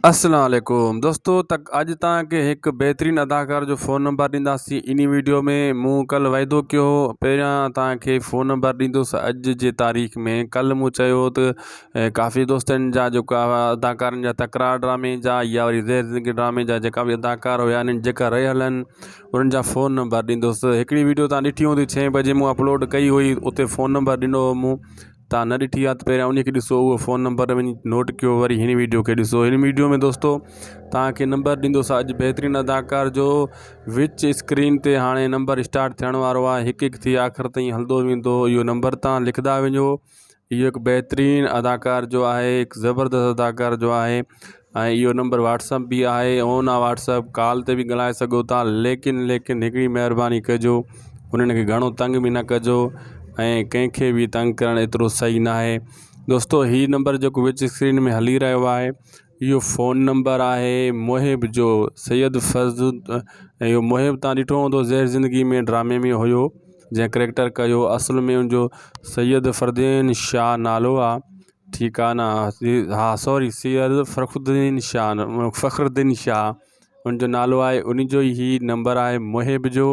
اسلام عليڪم دوستو تڪ اڄ تان کي هڪ بهترين اداڪار جو فون نمبر ڏينداسين اني ويڊيو ۾ مون ڪل وعدو ڪيو هو پهريان تان کي فون نمبر ڏيندوس اڄ جي تاريخ ۾ ڪل مون چيو هو ته ڪافي دوستن جا جيڪا اداڪارن جا تڪرار ڊرامي جا يا وري زهر زندگي ڊرامي جا جيڪا به اداڪار هيا اني جيڪا رهي هلن انن جا فون نمبر ڏيندوس هڪڙي ويڊيو تان ڏٺي هوندي ڇهين بجي مون اپلوڊ ڪئي هئي اتي فون نمبر ڏنو هو مون تان نه ڏٺي آ ته پهريان انهي کي ڏسو اهو فون نمبر وڃي نوٽ ڪيو وري هن ويڊيو کي ڏسو هن ويڊيو ۾ دوستو تان کي نمبر ڏيندو سا اڄ بهترين اداڪار جو وچ اسڪرين تي هاڻي نمبر اسٽارٽ ٿيڻ وارو آ هڪ هڪ ٿي آخر تائين هلدو ويندو اهو نمبر تان لکدا وڃو اهو هڪ بهترين اداڪار جو آهي هڪ زبردست اداڪار جو آهي ۽ اهو نمبر واٽس اپ به آهي اون آ واٽس اپ ڪال تي به ڳلهائي سگهو ٿا ليڪن ليڪن هڪڙي مهرباني ڪجو انهن کي گهڻو تنگ به نه ڪجو ۽ ڪنهن کي به تنگ ڪرڻ ايترو صحيح نه آهي دوستو هي نمبر جيڪو وچ اسڪرين ۾ هلي رهيو آهي اهو فون نمبر آهي محب جو سيد فرض اهو محب تان ڏٺو هوندو زهر زندگي ۾ ڊرامي ۾ هيو جنهن ڪريڪٽر ڪيو اصل ۾ ان جو سيد فردين شاهه نالو آهي ٺڪانا، ها سوري سيد فرخدين شاھ فخرالدين شاھ ان جو نالو آهي ان جو هي نمبر آهي محب جو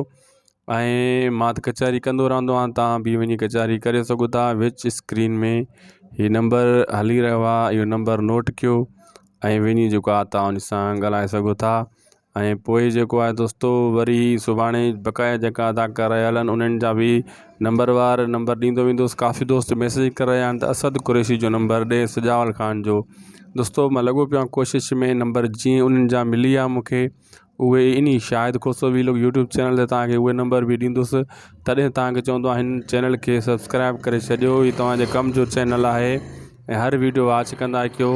۽ مان ته ڪچهري ڪندو رهندو آهيان تان به وڃي ڪچهري ڪري سگهو ٿا وچ اسڪرين ۾ هي نمبر هلي رهيو آهي اهو نمبر نوٽ ڪيو ۽ وڃي جيڪو آ تان ان سان ڳالهائي سگهو ٿا ۽ پوء جيڪو آهي دوستو وري سڀاڻي بقايا جيڪا اداڪار آيل آهن انهن جا به نمبر وار نمبر ڏيندو ويندوس ڪافي دوست ميسيج ڪري رهيا آهن ته اسد قريشي جو نمبر ڏي سجاول خان جو دوستو مان لڳو پيو آهيان ڪوشش ۾ نمبر جي انهن جا ملي ويا مونکي اهي ان ئي Shahid Khoso vlog YouTube channel تي توهان کي اهي نمبر به ڏيندوس تڏهن توهان کي چوندو آهيان هن چينل کي سبسڪرائب ڪري ڇڏيو هي توهان جي ڪم جو چينل آهي ۽ هر ويڊيو واچ ڪندا ڪيو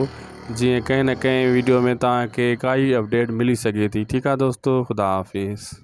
جيئن ڪنهن نه ڪنهن ويڊيو ۾ توهان کي ڪائي اپڊيٽ ملي سگهي ٿي ٺيڪ آ دوستو خدا حافظ.